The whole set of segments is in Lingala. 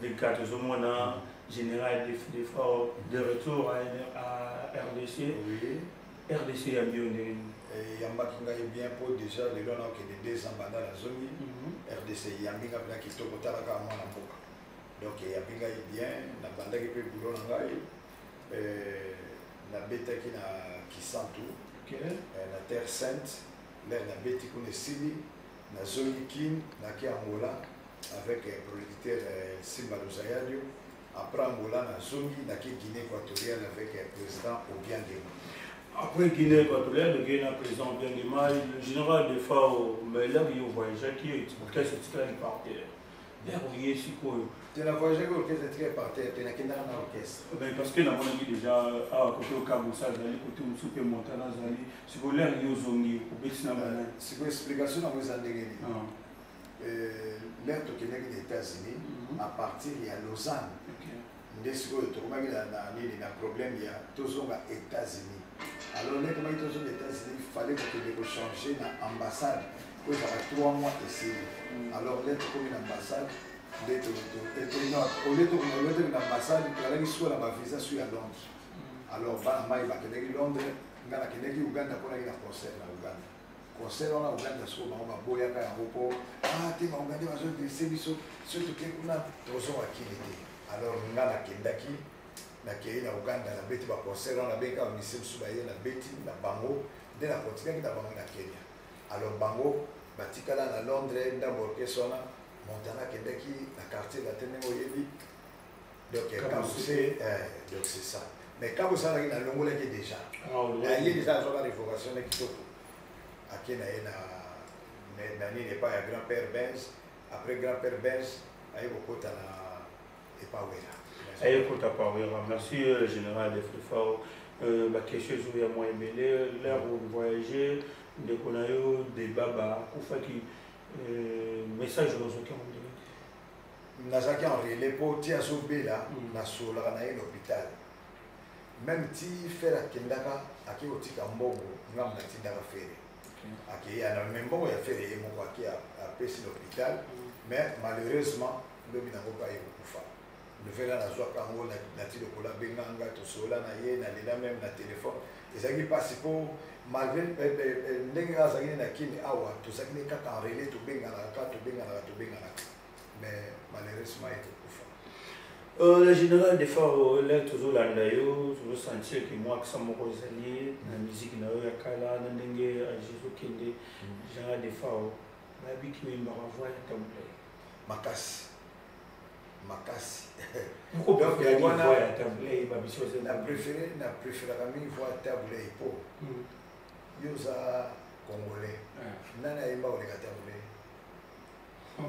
des gars tozo mona général de fort de retour à, à rdc oui. rdc ya bio ndenge nini eyambaki eh, ngai bien mpo déjà lelo na okende deux ans banda na zomi mhm. rdc eyambi ngai mpena kitoko tala kaka mwana mboka donc eyambi ngai bien nabandaki mpe bulo na ngai eh, nabetaki na kisantu eh, na terre sainte lere nabeti kuna esili nazongi kin naki angola avec eh, producteur eh, simba luzayadio après angola nazongi naki guinée équatoriale avec eh, président obiangema après guinée équatoriale nokei na président obiangema le général de fao mbaelaki yo voyageaki yo etikasi etikali par terre Vers oye sikoyo. Te na voyageaki orchestre très par terre, te nakendaka na orchestre. Ben parce que namonaki déjà awa kote okabusa azali kote mosusu mpe montana azali sikoyo lere yo ozongi obeti na bana. Sikoyo explication nango eza ndenge nini? Lere tokendaki na États-Unis à partir ya Lausanne. nde sikoyo tokomaki na, na nini na problème ya tozonga états-unis alors nde komaki tozonga états-unis fallait kokende kochange na ambassade po ezaka trois mois esili mm. alors nde tokomi na ambassade nde olie tokende na ambassade tozalaki sikoyo na bavisa su ya londres mm. alors bana mai bakendeki londres nga nakendeki uganda mponaki na concert na uganda concert wana uganda soko bango baboyaka yango mpo ah, te baugande bazointerese biso soki toke kuna tozonga kili te alors nga nakendaki nakei na uganda nabeti baconcert wana nabengaka bamisi mosusu baye nabeti na bango nde nakontinaki na bango na kenya alors bango batikala na londres ndambo orchestre wana montana akendaki na quartier latin ndenge oyebi donc kabuse eh, donc c'est ça mais kabuse azalaki nalongolaki déjà aye déjà azwaka révocation na kitoko ake na ye na nini epai ya grand père benz après grand père benz aye kokota na epawela aye kota pawela merci euh, général de frifao euh, baquestion ezo ya mwa ebele l'heure mm. voyage ndeko na yo debaba akufaki euh, message ozoki yango nazalaki en relais mpo ti azobela mm. nasololaka na ye na hôpital meme ti fere akendaka ake kotika mbongo ngambo natindaka fere akeyi ana me mbongo ya fere ye moko ake apesi na hôpital mm. mais malheureusement lobi nango mpe aye kokufa nouvelle wana azwaka yango nati lokola benganga tosolola na ye nalela meme na telefone ezalaki mpasi mpo malgré eh, eh, eh, ndenge azalaki ne na kini awa tozalaki ne kaka enrele tobenganaka kaka tobenganaka tobenganaka mais malheureusement ete kufa euh, le général de far le tozolanda yo tozosentir ke mwakisa moko ezali na miziki na yo ya kala na ndenge ajesu kende mm. général de far bayebi kiwembaka voi ya tabulai makasi makasi na préféré na préféraka mingi voi tabulei mpo hmm. yo oza congolais ah. nani ayemba koleka tabulei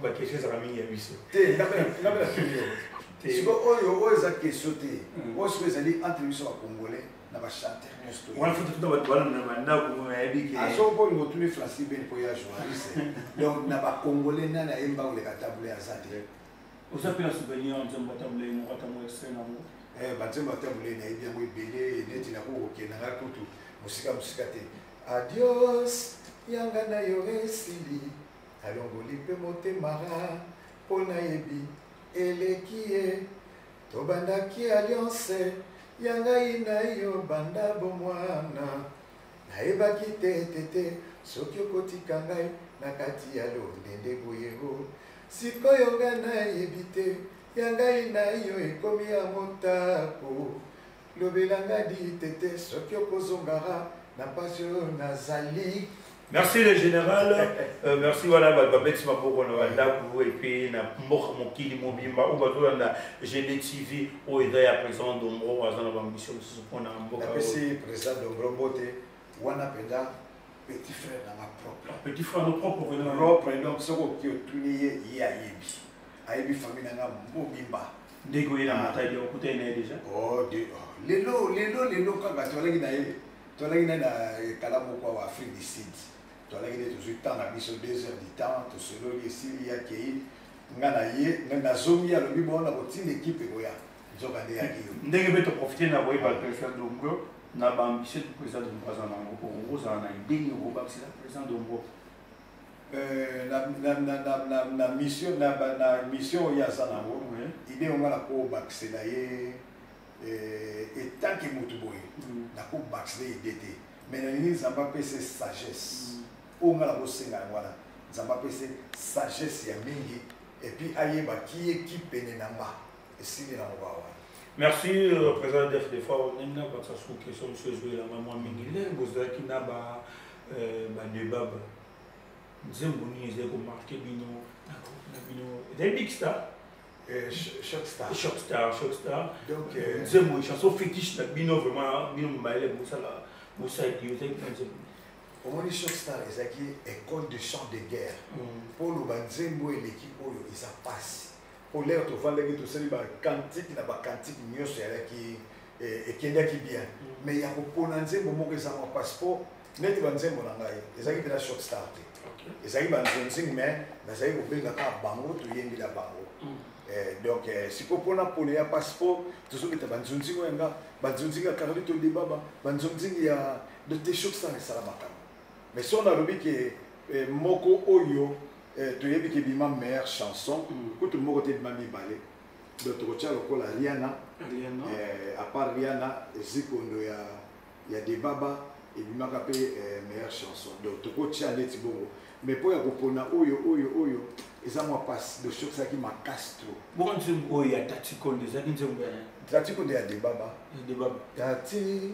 bakestion ezaka mingi ya biso te ngabela tuni yo siko oyo oyo eza kestion te hmm. oyo siko ezali entre biso bacongolais na ba chanteur nyonso to wana foto tuta bato wana na bandako mona yebi ke azo mpo olingo tuni francis ben mpo ya journaliste donc na bacongolais nani ayemba koleka tabule aza te oza mpe na souvenir nzembo ya tabule moko atango extrait nango eh, banzembo ya tabule nayebi yango ebele neti nakoki kokenda ngai kutu mosika mosika te adios yanga na yo esili alongoli mpe motema mpo nayebi eleki ye Tobandaki alliance ya ngai na yo banda bomwana nayebaki te te te soki okotika ngai na kati ya londende boye o sikoyo ngai nayebi te ya ngai na yo ekomi ya motako lobela nga di tete soki okozongara na pasi oyo nazali Merci le général, euh, merci voilà babeti maboko na bandako et puis na mboka mokili mobimba oyo bazolanda GD TV oyo eza ya président Dombro aza na bambition mosusu mpona mboka. Napesi président Dombro mbote wana mpenza petit frère na nga propre. Petit frère na propre vraiment. Propre donc soki oki otuni ye ye ayebi ayebi famille na nga mobimba. ndege oye na matai de okutani na ye deja oh, oh, lelo lelo lelo kaka tozalaki na ye tozalaki na ye na kala moko awa afrique du sud tozalaki nde tozwi temps na biso deux heures du temps tosololi esili yakei nga na ye nazongi alobi bona kotinda ekipe ekoya nzoka nde yaki yo ndenge mpe toprofite na koyeba president dongo na baambition du président dongo aza nango okozala na idee nini okobakisela président dongo Euh, na, na, na, na, na, na mission na, na mission oyo aza nango ide yonga nakobakisa na ye euh, etanke motu boye mm. nakobakisa ye ide te mai nalingi nzambe apesa sagesse mm. oyo nga nakosenga yango wana nzambe apesa sagesse ya mingi epuis ayeba ki eki pene na nga esili na moba wana merci euh, président def de fois ndenge nabakisa sous question mosusu ezwelanga mwa mingi ndenge bozalaki na ba euh, bande baba nzembo nini ezali komarke bino na bino ezali big star euh, choc star choc star choc star donc euh, nzembo chanson fétiche na bino vraiment bino mobayele bosala bosalaki ozalaki na nzembo omoni choc star ezalaki école de chant de guerre mpo mm. oloba nzembo eleki oyo eza mpasi Polaire tovandaki tosali ba cantique na ba cantique nyonso yalaki eh, ekendaki bien mm. mais ya kopona nzembo moko eza mwa mpasi mpo neti banzembo na ngai ezalaki mpena short star te ezalaki banzonzing mais nazalaki kobenga kaka bango toyembela bango mm. eh, donc eh, sikoyo mpona pole ya mpasi mpo tozobeta banzonzing oyo yanga banzonzing ya carlito debaba banzonzing ya de te short star esala makambo mais son alobi ke eh, moko oyo eh, toyebi ke bima meilleure chanson mm. kutu moko te bima mibale donc tokotya lokola riana eh, à part riana zikondo ya, ya debaba ebimaka mpe eh, meilleure chanson donc tokotya ndeti bongo mais mpo ya kopona oyo oyo oyo eza mwa mpasi donc soki ezalaki makasi trop bongo nzembo oyo ya tatikondo ezalaki nzembo ya tatikondo ya debaba debaba tati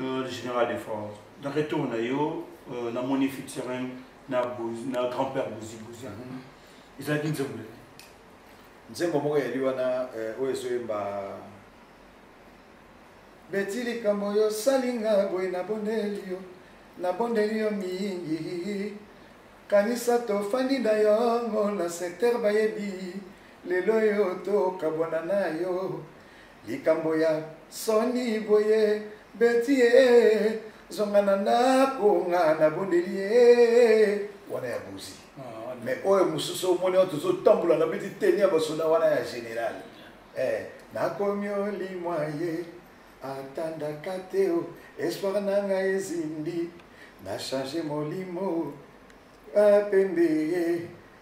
Euh, le général de France. De retour, on a eu, on a moni Fitzgerald, na grand-père Bouzi Bouzi. Ils mhm. ont dit Nzembo. Nzembo moko ya liwana euh, oyo ezoyemba beti likambo yo salinga boye nabondeli yo nabondeli yo mingi kanisa tofandi na yongo na secteur bayebi lelo yo tokabwana na yo Likambo ya soni boye beti ye zonga na ndako nga nabondeli ye wana ya bozi ah, mais oyo mosusu omoni oyo tozotambola na beti teni ya basoda wana ya général eh, nakomi olimwa ye atandaka te o oh, espoir na ngai ezindi na change molimo apembe ye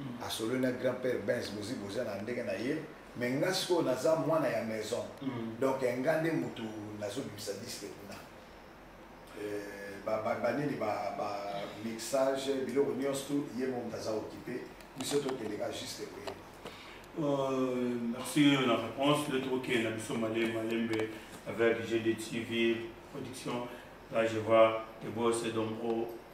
mm. asololi na grand père bens bozi boza na ndenge na ye mais nga sikoyo naza mwana ya maison mm. donc nga nde motu nazobimisa diske kuna euh, banini bamixage biloko nyonso tu ye mo moto aza okipe biso tokeleka juste koyeba euh, merci euh, na réponse le tokokende na biso malembe malembe avec gd tv production là je vois les boss et donc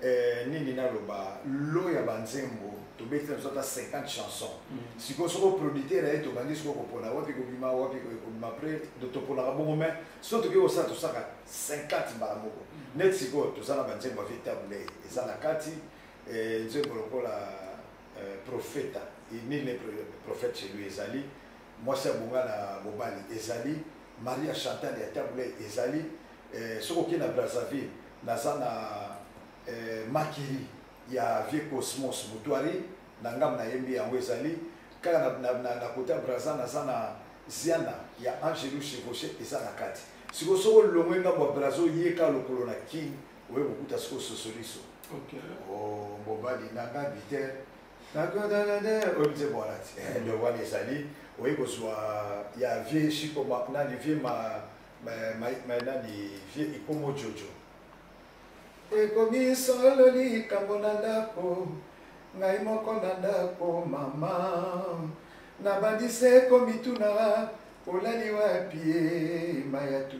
Eh, nini naloba lo ya banzembo tobeti na biso ata 50 chanson mm. sikoyo soki oproducteur aye tobandi sikoyo kopona wapi kobima wapi kobima pre toponaka bongo mai so tokoki kosala tosaka 50 mbala moko mm. neti sikoyo toza na banzembo ya vetabulei eza na kati eh, nzembo lokola eh, profeta nini prophète chez lui ezali mwasi abonga na mobali ezali maria chantal ya tabulei ezali eh, soki okei na brazzaville naza na eh, makiri ya vieux cosmos mutuari na ngambo nayembi yango ezali kaka na, na, na, na kota braza naza na ziana ya angelu chevauche eza na kati sikoyo soki olongwe ngambo ya braza oyeka lokolo na king oye kokuta sikoyo sosoliso okay. oh, mobali nanga biter oyebize bwana te eh, ndio wana ezali oye kozwa ya vie shiko nani vie ma mayenani vie ekomo jojo ekomi solo likambo na ndako ngai moko na ndako mama nabandi se komituna olali wapi eh, mayatu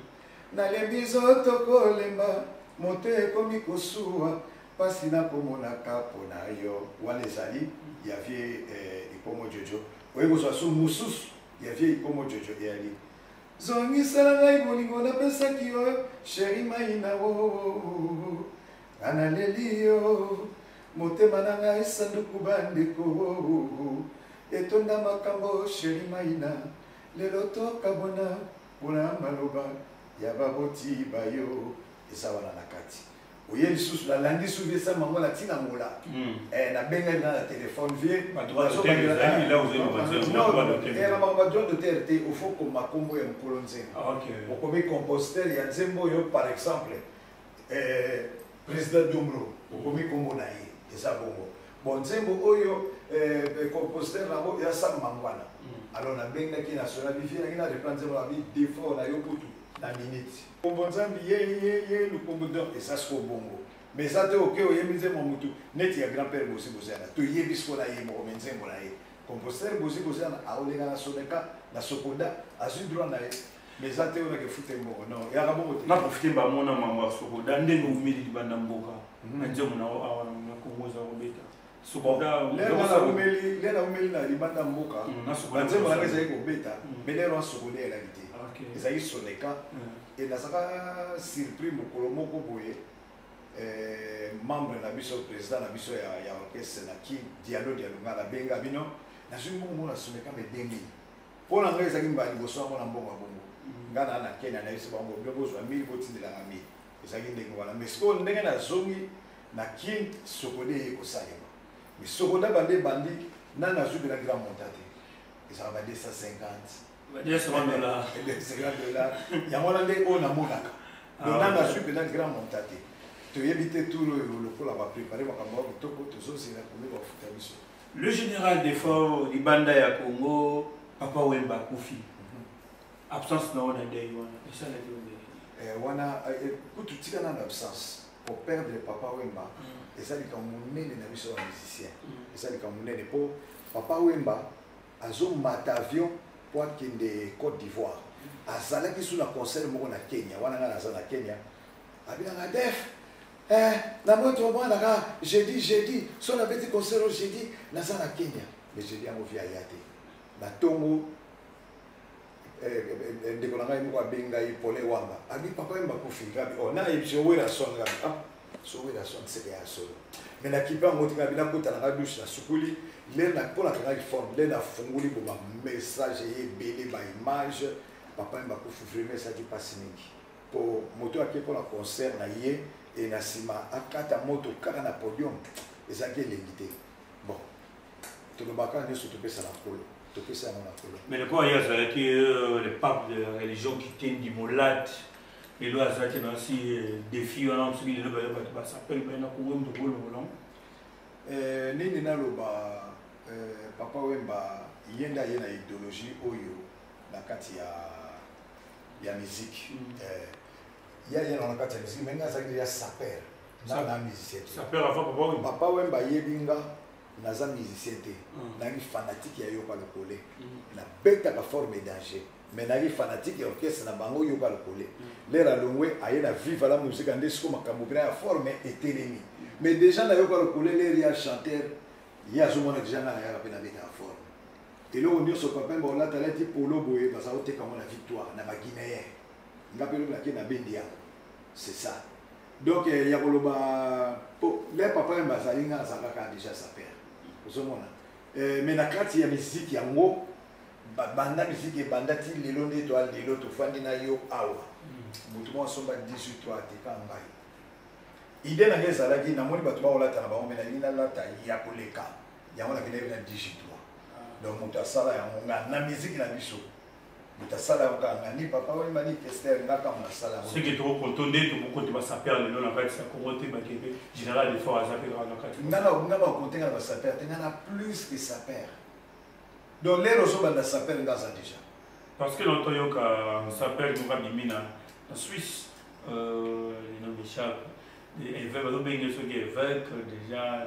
nalembi zoto kolemba moto ekomi kosuwa mpasi nakomonaka mpo na yo wana ezali ya vie eh, ikomo jojo oyebi kozwa su mosusu ya vie ikomo jojo eyali Zongisela ngai bolingo napesaki yo sheri maina o oh, oh, oh, nga naleli yo motema na ngai sanduku bandeko etonda makambo sheri maina lelo tokabona mpona maloba ya baboti bayo eza wana na kati oye lisusu nalandi su vie sama yango natina angola hmm. eh, nabengani na na telefone vie badroit d'auteur te ofo koma nkombo ya mokolo nzembo ah, okomi compositeur ya nzembo oyo par exemple eh, président dombro okomi nkombo na ye eza bongo bon nzembo oyo eh, compositeur nango ya sam mangwana hmm. alors nabengaki nationali vie nangi na reprendre nzembo na bi defort na yo kutu na minute Kombo nzambi ye ye ye lukombo donc eza siko bongo mais eza te oke oyembi nzembo mutu neti ya grand père bozi kozana toyebi siko na ye moko me nzembo na ye compositeur bozi kozana aolenga na soneka na sokoda azwi droit na ye mais eza te onake fute mbongo non yaka bongo te naprofite bamona mambo ya sokoda ndenge omeli libanda mboka mhm. na nzembo na yo awa na kongo eza kobeta umeli na libanda mboka banzembo nanga ezali kobeta me lelo asokoli elaki te ezalaki soneka enazaka surpris mokolo moko boye eh, membre na biso président na biso ya orchestre na ki dialo dialo nga nabenga bino nazwi mbongo mona soneka me demi mpo na ngai ezalaki mbala liboso yango na mbongo ya bongo nga na na kena nayebisi bango bino bozwa mili botindelaka mili ezalaki ndenge wana mais sikoyo ndenge nazongi na kin sokode eye kosalema mais sokoda bande ebandi nani azwi mpena grand monta te ezala ba 250 dollars yango wana nde oyo namonaka ah, donc nani azwi mpena grand monta te toyebi te tour oyo lokola baprepare makambo ya kitoko tozozela komi bafuta biso le général defort libanda ya congo papa wemba kufi absence na yo na deuil wana esalaki yo ndenge eh, wana eh, eh, kutu tika nano absence koperdre papa wemba mm. eza likambo monene na biso ba musicien mm. eza likambo monene mpo papa wemba azomata avion mpo akende côte d'ivoire mm. azalaki su na concert moko na kenya wana ngai naza na kenya abinanga def eh, na moto omwanaka jeudi jeudi so nabeti concert jeudi naza na kenya mais jeudi yango vi aya te na ntongo Eh, eh, ndeko na ngai moko abengi ngai pole wanga abi papa yemba kufi ngabi o oh, na yebisi yo wera son ngabi ah so wera son seke ya solo me na kipe yango tingabi nakota na ngai dushe na sukuli le na mpo nakangaki forme le nafunguli bo bamessage eye ebele baimage papa yemba kufi vraimen esaki mpasi mingi mpo moto ake mpo na concert na ye e na nsima akata moto kaka na podium ezalaki elengi te bon tolobaka nyonso topesa na nkolo topesa yango na nkolo mais lokola ye azalaki euh, le pape de la religion kitendi molate lelo azalaki na si euh, défi wana soki lelo bayo bato basapele baye na kongo moto bolongolango euh, nini naloba papa wemba ye nde aye na idéologie oyo na kati ya ya miziki mm. ye aye na kati ya miziki me ngai azalaki ya saper na na musicien papa wemba ayebi nga naza musicien te mm. nayaki fanatique ya yoka lokole mm. nabetaka forme danger mais nayaki fanatique ya orchestre na bango yoka lokole mm. lere alongwe aye na viva la musica nde siko makambo mpena ya forme etelemi mais déjà na yoka lokole lere ya chanteur ye azomona deja ngai nayaka mpe nabetaka forme eloko nyonso papa mba olata alati polo boye baza koteka ngo na victoire na baguinéen nga mpe lobi nake na bendi yango c'est ça donc eh, ya koloba po le papa yemba azali nga aza kaka deja sa père ozomona eh, mais na kati ya miziki yango banda miziki ebanda ti lelo nde to lelo tofandi na yo awa motu moko asomba 18 to ateka ngai ide na ngai ezalaki namoni bato bakolata na bango me nalingi nalata ya koleka yango nakendaki na 18 donc moto asala yango nga na miziki na biso moto asala yango kaka ngani papa oyo mani tester nga kaka moto asala yango soki toko konto nde tokokote basaper lelo na kati ya kongo te bakende général de fort aza mpe kaka na kati nga na nga bakote nga na basaper te nga na plus que saper donc lelo ozobanda saper nga aza déjà parce que longtemps yoka saper moko abimi na na suisse euh, non michel evêque bazobenge soki evêque déjà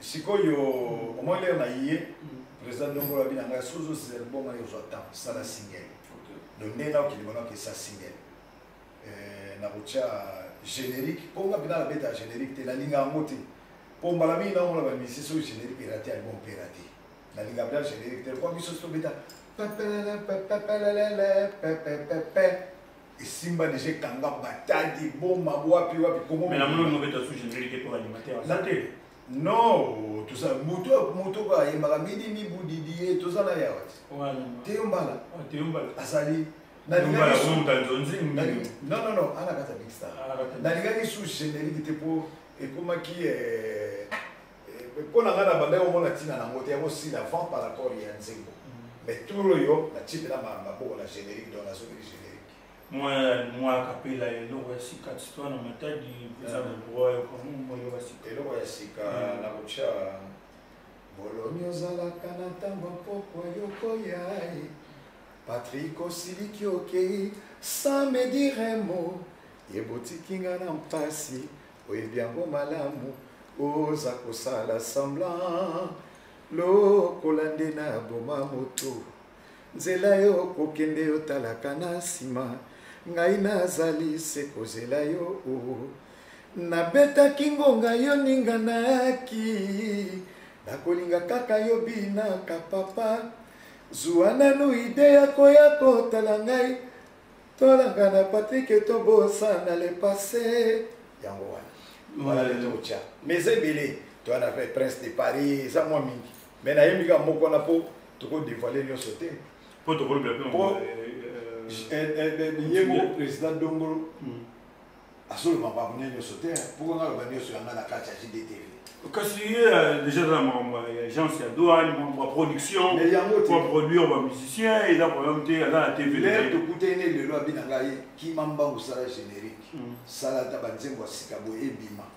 sikoyo omoi lere na ye président dongola bina ngai soki ozosisa liboma yo ozwa temps sala single do nde nao kilima nao kesa single eh, na kotya générique mpo nga mpena nabeta générique te nalinga yango te mpo mbala mingi naomona bamisi soki générique erate ya liboma mpe erate nalinga mpena générique te mpo biso soki tobeta esimba deja ekanga batadi boma wapi wapi kongomelate non toza moto moto oyo ayembaka midi mibudidi ye toza na yawa teyombala ah, azali nonono ana kata big star nalingaki su generique te mpo ekomaki eh, mpo na ngai nabandaki komona ntina nango te yango sila avant par rapport ya nzembo mais tour oyo natipela maboko na générique donc nazokeli générique mwa kapela eloko ya sika tistwa na matadi eza na droit ya komoyo ya sika eloko ya sika na kotya boloni ozalaka na ntango mpokwa yokoya ye patrik osiliki okei sans me dire mo ebotiki nga na mpasi oyebi yango malamu oza kosala semblant lokola nde na boma moto nzela yo kokende yotalaka na nsima ngai nazali se kozela yo o oh. nabetaki ngonga yo ninganaki nakolinga kaka yo binaka papa zuwa nanu ide ya koya kotala ngai Tolanga na Patrick to bosana le passé. Yango wana. Voilà le tour tcha. Mais ebele to na fait prince de Paris eza mwa mingi. Mais na yembi ka moko na po toko dévoiler nyoso te. Po toko le bien. Po ye moko président Dongolo. Mm. azoloba makambo nde nyonso te mpo nga loba nyonso yanga na kati ya jdtv kasi ye euh, déjà eza na makambo ya agence ya douane makambo ya production po produire bamusicien eza problème te aza na tv lere tokutani ne lelo abina ngai kima mbangu sala générique hmm. sala ata banzembo ya sika boye ebima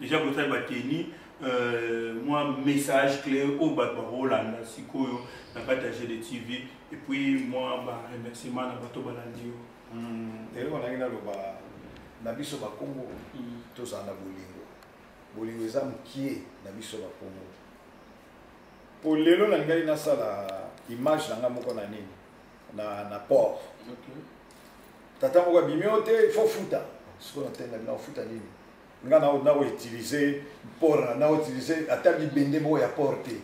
deja botali bateni euh, mwa message clé oyo bato bakolanda sikoyo na kati ya gd tv epuis mwa baremerciement na bato balandi yo hmm, eloko nangi naloba na biso bakongo hmm. tozala na bolingo bolingo eza mokie na biso bakongo mpo lelo nalingaki nasala image na ngai moko na nini na, na port okay. tata moko abimi yo te il faut futa siko na tenda bina ofuta nini nga na na utiliser port na na utiliser ata libende moko ya port te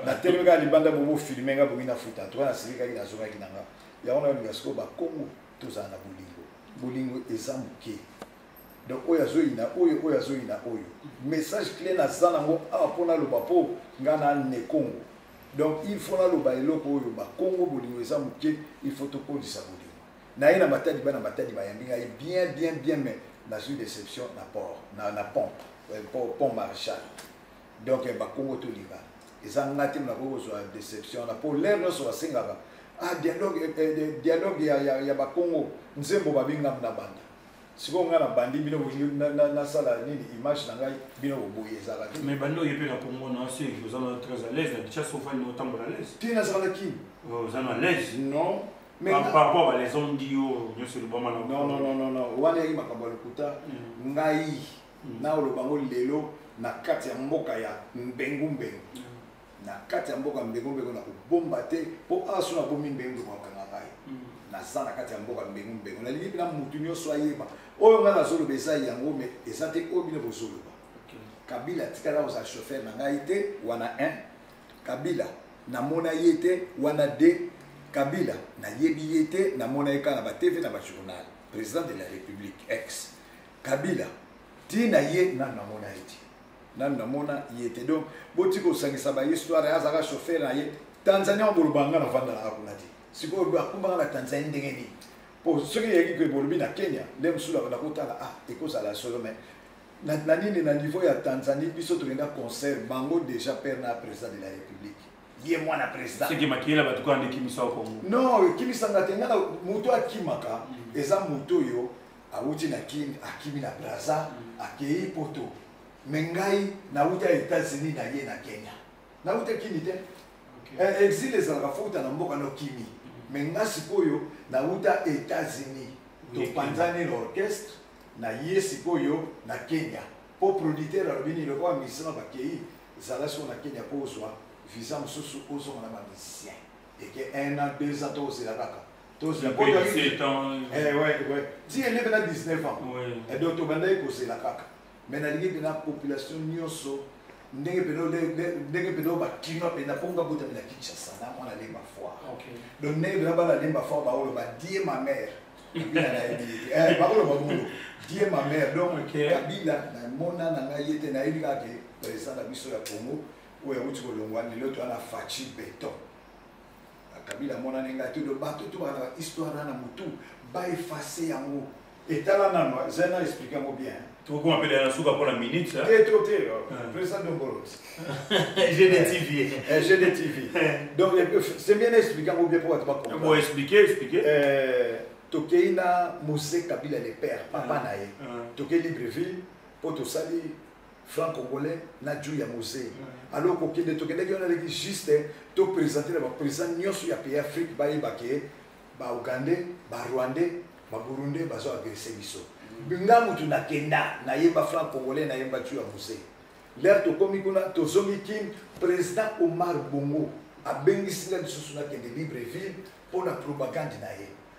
na telemi kaka libanda bobo filme nga bongi na futa to na silikaki na zongaki na nga yango na yolinga siko ba kongo tozala na bolingo bolingo eza moke donc oyo azoyina oyo oyo azoyina oyo message clé naza nango awa mpo naloba mpo nga na ne kongo donc il faut naloba eloko oyo bakongo bolingo eza moke il faut tokolisa bolingo naye na matadi bana matadi bayambi ngai bien bien bien mais nazwi déception na port na, na pont euh, pont, pont marchal donc eh, bakongo tolinga eza ngai te nakoki kozwa déception na mpo lere nyonso basengaka ah, dialogue, eh, eh, dialogue ya, ya, ya bakongo nzembo babinga na banda sikoyo ngai nabandi bino nasala nini image na ngai bino boboyi ezala te mais bandi oye mpe na congo na osi oza na très à l'aise na bichas ofani otambola à l'aise te nazala na kin oh, oza na l'aise non par rapport à les hommes dit yo nyoso elobama na non non non non wana yaki makambo ya lokuta mm. ngai mm. naoloba ngo lelo na kati ya mboka ya mbengu mbengu mm. na kati ya mboka mbengo mbengo na kobomba te mpo awa so nabomi mbengo mbengo bakanga ngai mm. naza na kati ya mboka mbengo mbengo nalingi mpena motu nyonso ayeba oyo ngai nazoloba eza yango me eza te oyo bino bozoloba kabila atikala kozala chauffeur na ngai te wana 1 kabila namona ye te wana 2 kabila nayebi ye te namona ye kaka na batv na bajournal président de la république ex kabila ntina ye nanu namona ye te nanu namona ye te donc boti kosangisa bahistware azalaka chauffeur na ye tanzania oboloba nga nafandalaka kuna te sikoyo akumbaka na tanzanie ndenge nini po soki eyaki koye bolobi na kenya nde mosusu abanda kotala ah ekozala solo mai na nini na niveau ya tanzanie biso tokenda concert bango déjà père na président de la république ye mwana président soki makiyela bato kaka nde ekimisa kongo non ekimisanga te nga moto akimaka mm. eza moto oyo awuti na kin akimi na braza mm. akei poto me ngai nawuta etats-unis na ye na kenya nawuta kimi te okay. Eh, exile ezalaka fouta na mboka na okimi me mm. nga sikoyo nawuta etats-unis topanzani na orchestre na ye sikoyo na kenya mpo producteur alobi nini lokola musicien na bakei zala siko na kenya mpo ozwa visa mosusu ozonga na bamusicien eke un an deux ans to ozela kaka Tous les potes avec 7 ans. Eh ouais ouais. Ti elle avait 19 ans. Ouais. Et donc to bandai ko c'est la kaka. Mais na lingi na population nyoso ndenge peno ndenge peno ba kino pe na ponga bota na Kinshasa na mwana lemba foire. OK. Donc ndenge peno ba la lemba foire ba olo ba die ma mère. Bila na yebi. Eh ba olo ba mulo. Die ma mère. Donc okay. Kabila na mona na ngai yete na yebi ka ke président na biso ya Congo oyo awuti kolongwa lelo to ana fachi beton. Kabila amonani ngai te do bato to bana histoire na na mutu ba effacer yango etala nano zena explique yango bien tokoma mpele na suka mpona minute te to te président dongolot gdtv gdtv donc c'est bien explique yango bien mpo bato bakombo explique explique tokei na mose kabila le père papa na ye tokei libreville mpo tosali franc congolais na juu ya mose alors kokende tokendaki wana leki juste topresente na baprésident nyonso ya pays afrique bayeba ke baougandais barwandais baburundais bazo agrese biso nga mutu nakenda nayemba franc congolais nayemba juu ya mose lere tokomi kuna tozongi kin président omar bongo abengisi nga lisusu nakende libreville mpo na propagande na ye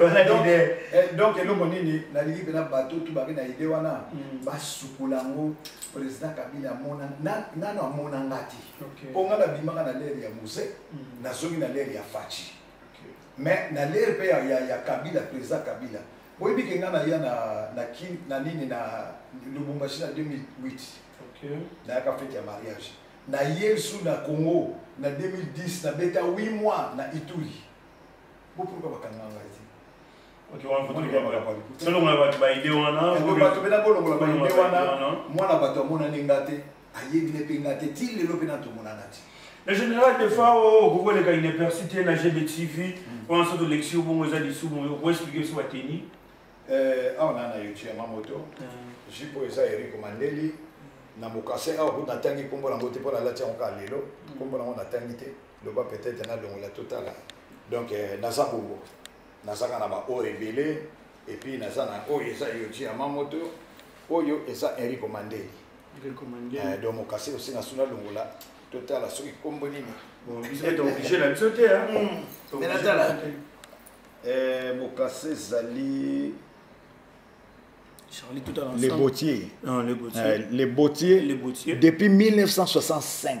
Eh, donc eloko nini nalingi mpena bato tu babe na ide wana mm. basukola yango président kabila amona nano amona nga te mpo nga nabimaka na lere ya muse mm. nazongi na lere ya faci mais na lere mpe ya kabila président kabila boyebi ke nga naya na nini na lubumbashi na 2008 nayaka fete ya mariage naye lisusu na congo na 2010 nabeta 8 mois na ituri bo pourquoi ba kanga ngai ti Ok, on va dire ba ba. Solo mwa ba ba idée wana. Ko ba to bena ko longola ba idée wana. Mwana ba to mona ne ngate. Ayebi ne pe ngate ti lelo pe na to mona na ti. Le général de fois au Google est une personnalité na GBTV. On a sorte de lecture bon aux amis sous bon. Vous expliquez sur la tenue. Euh, on a na YouTube ma moto. Jipo eza Eric Mandeli. Na mokase awa kuna tangi kombo na ngote pona lati yango ka lelo. Kombo na ngo na tangi te. Mm. loba peut-être nalongola totala donc euh, naza bongo nazaka na baoyo ebele epuis naza na oyo eza yoji ya mamoto oyo eza enrico mandeli euh, donc mokasi osi na suna longola totala soki nkombo nini natala mokasi ezali le botier le botier depuis 1965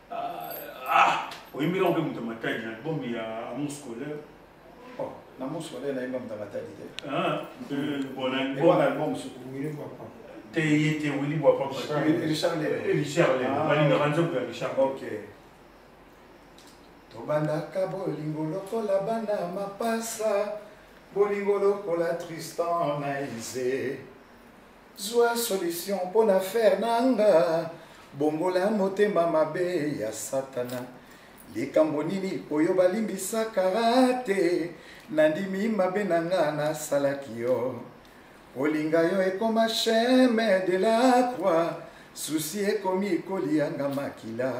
oyembela mpe moto matadi na album ya amour scolaire na amour scolaire nayemba moto matadi te bonalbum te ye te wili bwa paparichard balingaka nzembo ya richard ok tobandaka bolingo lokola bana mapasa bolingo lokola tristan na ise Zwa solution mpo na affaire na nga, bongola motema mabe ya Satana. Likambo nini oyo balimbisaka te? Nandimi mabe na nga nasalaki yo. Olinga yo ekoma chemin de la croix, susi ekomi kolianga makila.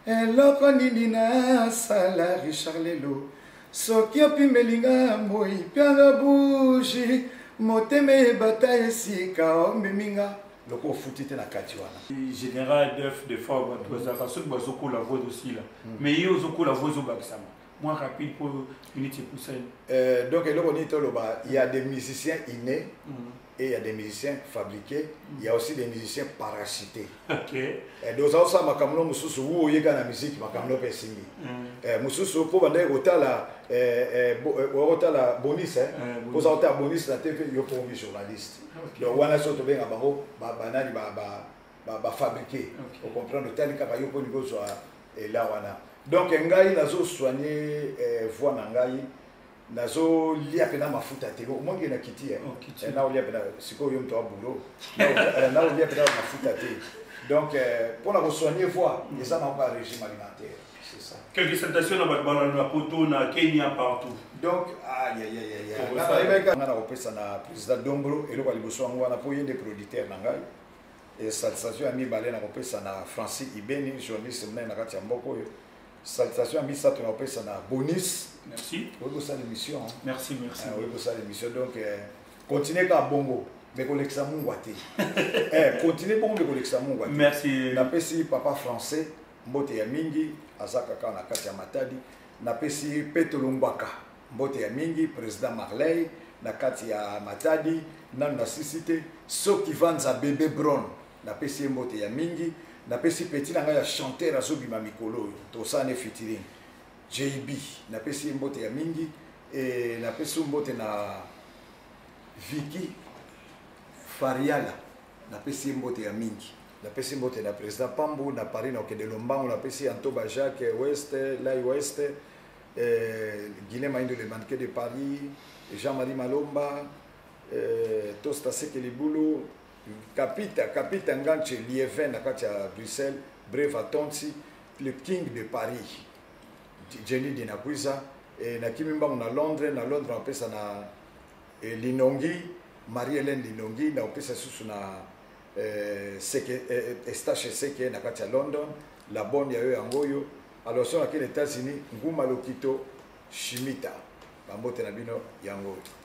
eloko nini nasala richard lelo soki opimeli nga moi pianga buji motema ebata esika omemi nga loko ofuti te na kati wana général def de fois bato bazalaka soki bazokola vo ezosila mm. mais ye ozokola vo ezobakisama mwa rapide mpo minute epusani euh, donc eloko nini toloba ya des musiciens inne mm. et il y a des musiciens fabriqués il y a aussi des musiciens parachutés okay. eh, donc ozosala makambo no mosusu wu oyeka na miziki makambo no mpe esimbi mm. eh, mosusu mpo bandaki kotala eh, eh, eh, okotala bonis eh, eh oza kotala bonis na tv yo mpo omi journaliste okay. donc wana so tobenga bango banani bafabrike ocomprendre otali kaka yo mpo nikozwa ela wana donc ngai nazosoigne eh, voix na ngai nazolia mpena mafuta te omonike na kiti eh? oh, eh, naolia mpena sikoyo yo moto ya boulot eh, naolia mpena mafuta te donc mpo na kosoigne voi mm. eza nango ba régime alimentaire c'est ça quelques salutations na bato balanda na poto na kenya partout donc ayayayayanga na kopesa na président dombolo eloko ya liboso yango wana mpo ye nde producteur na ngai esalisation ya mibale na kopesa na francis ibeni journaliste monene na kati ya mboka oyo salutation ya misato na kopesa na bonus merci oyebi kosala émission merci merci ah, oyebi kosala émission donc euh, continue kaka bongo me kolekisa mungwa te eh, continue bongo me kolekisa mungwa te merci napesi papa français mbote ya mingi aza kaka na kati ya matadi napesi petolo ngbaka mbote ya mingi président marley na kati ya matadi nanu nasisi te soki vanza bebe bron napesi ye mbote ya mingi napesi peti na ngai ya chanteur azobima mikolo oyo tosala ne fitiring jb napesi ye mbote ya mingi e, napesi mbote na viki fariala napesi ye mbote ya mingi napesi mbote na président pambu na paris na okende lombango napesi antoba jacques west lai west eh, guilain maindo le manquet de paris jean marie malomba eh, tosta seke libulu kapita kapita ngance lievin na kati ya bruxelles breva tonsi le king de paris jenny dinakwiza e, nakimi mbangu na londres na londres napesa na e, linongi marie helene linongi nakopesa susu na e, seke, e, estache seke na kati ya london la bonne ya yo yango oyo alors so nakeli états-unis nguma lokito shimita bambote na bino yango oyo